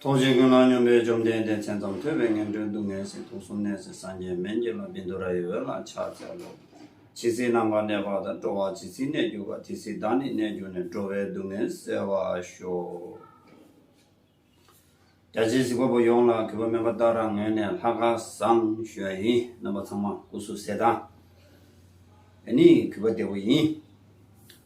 ཐོག་ཆེན་ཀུན་སློང་སྙོམས་པའི་བཅོམ་ལྡན་འདས་མཚན་ཙམ་ཐོས་པས་ངན་འགྲོའི་སྡུག་བསྔལ་སྲིད་དུ་གསུམ་གནས་སའི་སངས་རྒྱས་མན་ཇི་ལ་བིནྡུ་ར་ཡི་འོད་ལ་ཕྱག་འཚལ་ལོ། ཇི་སྲིད་ནམ་མཁའ་གནས་པ་དང་འགྲོ་བ་ཇི་སྲིད་གནས་གྱུར་པ་དེ་སྲིད་བདག་ནི་གནས་གྱུར་ནས་འགྲོ་བའི་སྡུག་བསྔལ་བསལ་བར་ཤོག། རྒྱ་ཆེའི་གཟིགས་པ་པོ་ཡོངས་ལ་གུས་པ་སྨོན་པ་ལྟར་རང་ངོས་ནས་ལྷ་དགའ་བསང་ཞུ་བ་ཡིན་རྣམ་པ་ཚང་མ་སྐུ་གཟུགས་གསལ་དངས་ནི་གུས་པ་བདེ་པོ་ཡིན།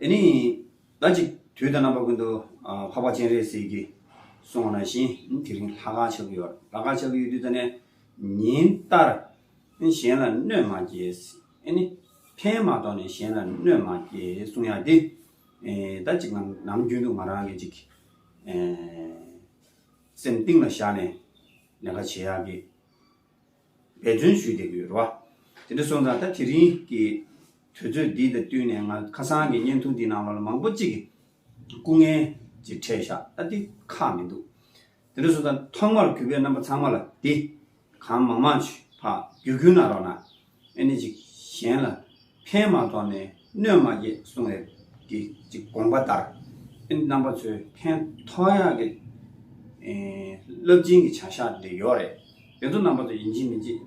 དེ་ནི་ད་ཅིག་དུས་ད་རྣམ་པ་ཀུན་ཏུ་འཕགས་པ་སྤྱན་རས་གཟིགས་ཀྱིས་གསུང་བ་ན་བཞིན་དེ་རིང་ལྷ་ཁང་ཆགས་ཀྱི་ཡོད། ལྷ་ཁང་ཆགས་ཀྱི་ཡོད་དུས་ད་ནས་ཉིན་ལྟར་གཞན་ལ་གནོད་མ་སྐྱེལ། ཨེ་ནི། ཕན་མ་གཏོང་ནས་གཞན་ལ་གནོད་མ་སྐྱེལ་གསུང་ཡ་དེ། ད་ཅིག་ང་ནམ་རྒྱུན་དུ་ང་རང་གིས་ཅིག་སེམས་གཏིང་ལ་བཞག་ནས་ལས་ཀ་བྱེད་ཡག་གི། འབད་བརྩོན་ཞུས་བསྡད་ཀྱི་ཡོད་རེད་བ། དེ་འདྲ་སོང་ཙང་ད་དེ་རིང་གི་དུས་ཚོད་འདི་དང་བསྟུན་ནས་ང་ཁ་སང་གི་བརྙན་ཐུང་འདི་ནང་ལོགས་ལ་མང་པོ་གཅིག་སྐུ་ངལ་གྱི་འཕྲད་བཞག་ད་དེ་ཁག་མི་འདུག་དེ་འདྲ་སོང་ཙང་ཐོག་མར་གུས་པས་རྣམ་པ་ཚང་མ་ལ་འདི་གང་མང་མང་བགྱི་གུ་ན་རོགས་ན་ཨེ་ནས་ཅིག་གཞན་ལ་ཕན་མ་ཐོགས་ནས་གནོད་མ་བསྐྱེད་གསུང་བའི་དེ་ཅི་དགོངས་པ་ལྟར། རྣམ་པ་ཚོས་ཕན་ཐོགས་ཡག་གི། རླབས་ཆེན་གྱི་བྱ་བཞག་འདི་ཡོད་རེད། དེ་ཚོ་རྣམ་པ་ཚོ་ཡིན་གཅིག་མིན་གཅིག་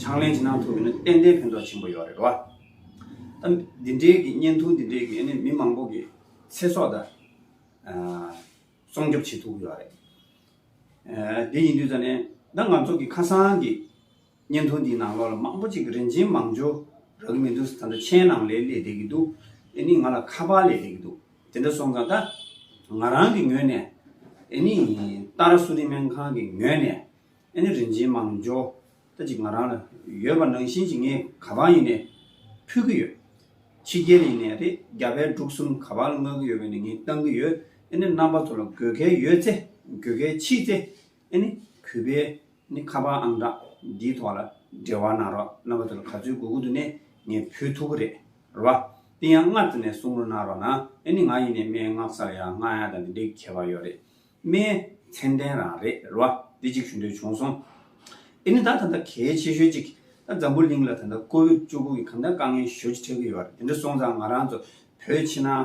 ཕྱག་ལེན་ཅི་གནང་ཐུབ་ཡོད་ན་ཏན་ཏན་ཕན་ཐོགས་ཆེན་པོ་ཡོད་རེད་རོ། ད་འདི་འདྲའི་གི་བརྙན་ཐུང་འདི་འདྲའི་གི་མི་མང་པོ་གི་ཚེ་སྲོག་ད་སྲོང་སྐྱོབ་བྱེད་ཐུབ་ཡོད་རེད། དེ་ཡིན་དུས་ད་ནི་ད་ང་ཚོ་གི་ཁ་སང་གི་བརྙན་ཐུང་འདིའི་ནང་ལོགས་ལ་མང་པོ་གཅིག་གི་རིན་ཆེན་མང་ཇོ་རག་གི་མི་འདུག་ད་ལྟ་མཆན་ནང་ལས་ལས་བསྡད་ཀྱི་འདུག་ཨེ་ནི་ང་ལ་ཁ་པར་ལས་བསྡད་ཀྱི་འདུག་དེ་འདྲ་སོང་ཙང་ད་ང་རང་གི་ངོས་ནས་ཨེ་ནི་རྟ་ར་སུ་རིན་སྨན་ཁང་གི་ངོས་ནས་ཨེ་ནི་རིན་ཆེན་མང་ཇོ་ད་ཅིག་ང་རང་ལ་ཡོད་པ་ནང་བཞིན་ཅིག་ངས་ག་པར་ཡིན་ནས་ཕུལ་གྱི་ཡོད། ཕྱི་རྒྱལ་ཡིན་ནས་རེད་རྒྱ་བལ་འབྲུག་གསུམ་ག་པར་ལ་མངགས་ཀྱི་ཡོད་པས་ནས་ངས་བཏང་གི་ཡོད་ཨེ་ནི་རྣམ་པ་ཚོ་ལ་དགོས་གལ་ཡོད་ཚེ་དགོས་གལ་མཆིས་ཚེ་ཨེ་ནི་གུས་པས་ནི་ཁ་པར་ཨང་གྲངས་འདིའི་ཐོག་ལ་འབྲེལ་བ་གནང་རོགས་གནང་བ་དེ་ལ་ག་ཚོད་གུ་གུ་དུ་ནས་ངས་ཕུལ་ཐུག་གི་རེད་ར། དེ་ཡང་སྔར་དུ་ནས་གསུང་རོགས་གནང་རོགས་གནང་ཨེ་ནི་ང་ཡིན་ནས་སྨྲེ་སྔགས་སར་ཡང་སྔགས་ཡང་དང་དེ་འདྲའི་ཁྱད་པར་ཡོད་རེད་སྨྲེ་མཚན་ལྡན་རང་རེད་ར་དེ་ཅིག་ཞུ་འདོད་བྱུང་སོང། ཨེ་ནི་ད་ད་ལྟ་གལ་ཆེ་ཤོས་ཅིག་ད་འཛམ་བུ་གླིང་ལ་ད་ལྟ་ཀོ་བིད་བཅུ་དགུ་གི་གང་འདྲ་དཀའ་ངལ་ཞོ་ཅི་འཕྲད་ཀྱི་ཡོད་རེད་དེ་འདྲ་སོང་ཙང་ང་རང་ཚོ་བོད་ཕྱི་ནང་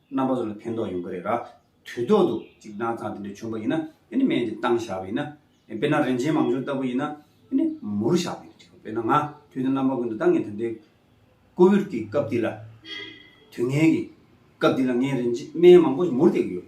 རྣམ་པ་ཚོ་ལ་ཕན་ཐོགས་ཡོང་གི་རེད་ར། དུས་ཐོག་ཏུ་གཅིག་དྲང་ཚང་དེ་འདྲ་བྱུང་བ་ཡིན་ན་དེ་ནི་སྨན་གྱི་སྟངས་བཞག་པ་ཡིན་ན། དཔེར་ན་རིན་ཆེན་མང་ཆུང་ལྟ་བུ་ཡིན་ན་དེ་ནི་མུར་བཞག་པ་ཡིན་ན་འགྲིག་གོ་དཔེར་ན་ང་དུས་དང་རྣམ་པ་ཀུན་ཏུ་ད་ངས་ད་ལྟའི་ཀོ་བིར་གྱི་སྐབས་འདི་ལ། དུས་ངན་གྱི་སྐབས་འདི་ལ་ངས་རིན་ཆེན་སྨན་མང་པོ་ཞིག་མུར་བསྟེགས་ཀྱི་ཡོད།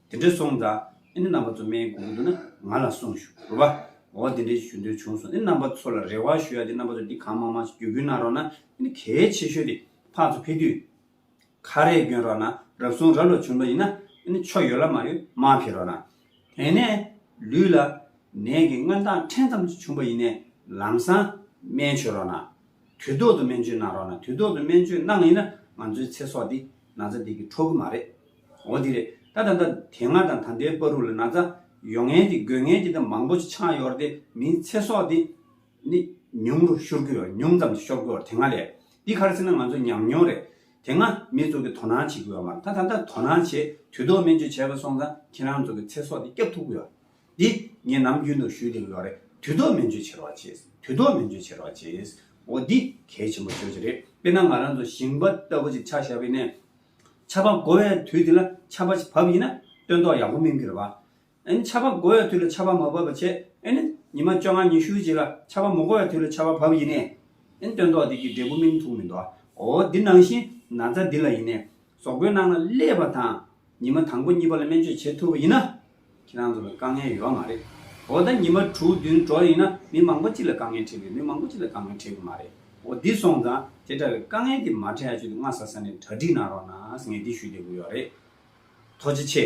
དེ་འདྲས་སོང་ཙང་ཨེ་ནི་རྣམ་པ་ཚོ་སྨྲའི་སྒོ་གུ་དུ་ན་ང་ལ་གསུངས་ཞུ་རོགས་པ། འོ་དེ་འདྲས་ཞུ་འདོད་བྱུང་སོང་ཨེ་ནི་རྣམ་པ་ཚོ་ལ་རེ་བ་ཞུ་ཡ་དེ་རྣམ་པ་ཚོ་འདི་གང་མང་མང་ཞིག་བརྒྱུད་སྐུལ་གནང་རོགས་ན་ཨེ་ནི་གལ་ཆེ་ཤོས་དེ་ཕག་ཚོ་ཕེ་དུས་ཁ་རས་བསྐྱོན་རོགས་ན་རབ་སོང་རབ་ལོ་བྱུང་པ་ཡིན་ན་ཨེ་ནི་ཆོ་ཡོད་ལ་མ་ཡོད་མ་ཕེ་རོགས་ན། དེ་ནས་ལུས་ལ་ནད་ཀྱི་མངོན་སྟངས་ཕྲན་ཙམ་ཅིག་བྱུང་པ་ཡིན་ནས་ལམ་སང་སྨན་བྱོས་རོགས་ན། དུས་ཐོག་ཏུ་སྨན་བཅོས་གནང་རོགས་ན་དུས་ཐོག་ཏུ་སྨན་བཅོས་གནང་ཡིན་ན་ང་ཚོའི་ཚེ་སྲོག་འདི་ན་ཚ་འདི་གི་འཕྲོག་གི་མ་རེད། འོ་འདི་རེད། ད་ད་ད་དེ་སྔ་དང་ད་ལྟའི་པར་རུ་ལ་ན་ཚ་ཡོ་ངན་གྱི་དགོས་ངན་གྱི་ད་མང་པོ་ཅིག་ཆགས་ཡོད་རེད་དེ་མིའི་ཚེ་སྲོག་དེ་ནི་ཉུང་རུ་ཤོར་གི་ཡོད་ཉུང་ཙམ་དུ་ཤོར་གི་ཡོད་དེ་སྔ་ལས། འདི་ག་རེ་ཟེར་ན་ང་ཚོ་ཉམས་མྱོང་རེད། དེ་སྔ་མི་ཚོགས་ཀྱི་དོ་སྣང་བྱེད་ཀྱི་ཡོད་མ་རེད་ད་ད་ད་དོ་སྣང་བྱེད་དུས་ཐོག་མེད་ཅིག་བྱས་པ་སོང་ཙང་ཁྱེད་རང་ཚོ་གི་ཚེ་སྲོག་དེ་སྐྱབས་ཐུབ་གི་ཡོད། འདི་ངས་ནམ་རྒྱུན་དུ་ཞུས་ཏེ་ཡོད་རེད་དུས་ཐོག་མེད་འཇོན་བྱེད་རོགས་བྱེད་དུས་ཐོག་མེད་འཇོན་བྱེད་རོགས་བྱེད། འོ་འདི་གལ་ཆེན་པོ་ཤོས་ཅིག་རེད་དཔེར་ན་ང་རང་ཚོ་ཞིང་པ་ལྟ་བུ་ཅིག་ཆགས་བཞག་པའི་ནས། ཆར་པ་འགོ་བའི་དུས་དེ་ལ་ཆར་པ་ཅིག་བབས་ཡིན་ན་སྟོན་ཐོག་ཡག་པོ་སྨིན་གི་རེད་བ། ཨན་ཆར་པ་འགོ་བའི་དུས་ལ་ཆར་པ་མ་བབས་པ་ཆེད་ཨན་ཉི་མ་བཅོ་ལྔ་ཉི་ཤུ་ཅིག་ལ་ཆར་པ་མོ་འགོ་བའི་དུས་ལ་ཆར་པ་བབས་ཡིན་ནས། ཨན་སྟོན་ཐོག་དེ་གི་འབྲས་བུ་སྨིན་ཐུག་མི་འདུག་འོ་འདི་ནང་བཞིན་ན་ཚ་འདི་ལ་ཡིན་ནས་ཟོག་པོའི་ནང་ལ་སླེབས་པ་དང་ཉི་མ་དང་པོ་གཉིས་པ་ལ་སྨན་བཅོས་བྱེད་ཐུབ་པ་ཡིན་ན། ཁྱེད་རང་ཚོ་ལ་དཀའ་ངལ་ཡོད་མ་རེད། འོ་ད་ཉི་མ་དྲུག་བདུན་འགྲོ་ཡིན་ན་མི་མང་པོ་གཅིག་ལ་དཀའ་ངལ་འཕྲད་དགོས་མི་མང་པོ་གཅིག་ལ་དཀའ་ངལ་འཕྲད་དགོས་མ་རེད། འོ་འདི་སོང་ཙང་དེ་འདྲ་བའི་དཀའ་ངལ་དེ་མ་འཕྲད་ཡ་ཆོད་དུ་སྔ་ས་ས་ནས་གྲ་སྒྲིག་གནང་རོགས་གནང་ངས་འདི་ཞུ་བདེ་པོ་ཡོད་རེད། ཐོག་ཅི་ཆེ།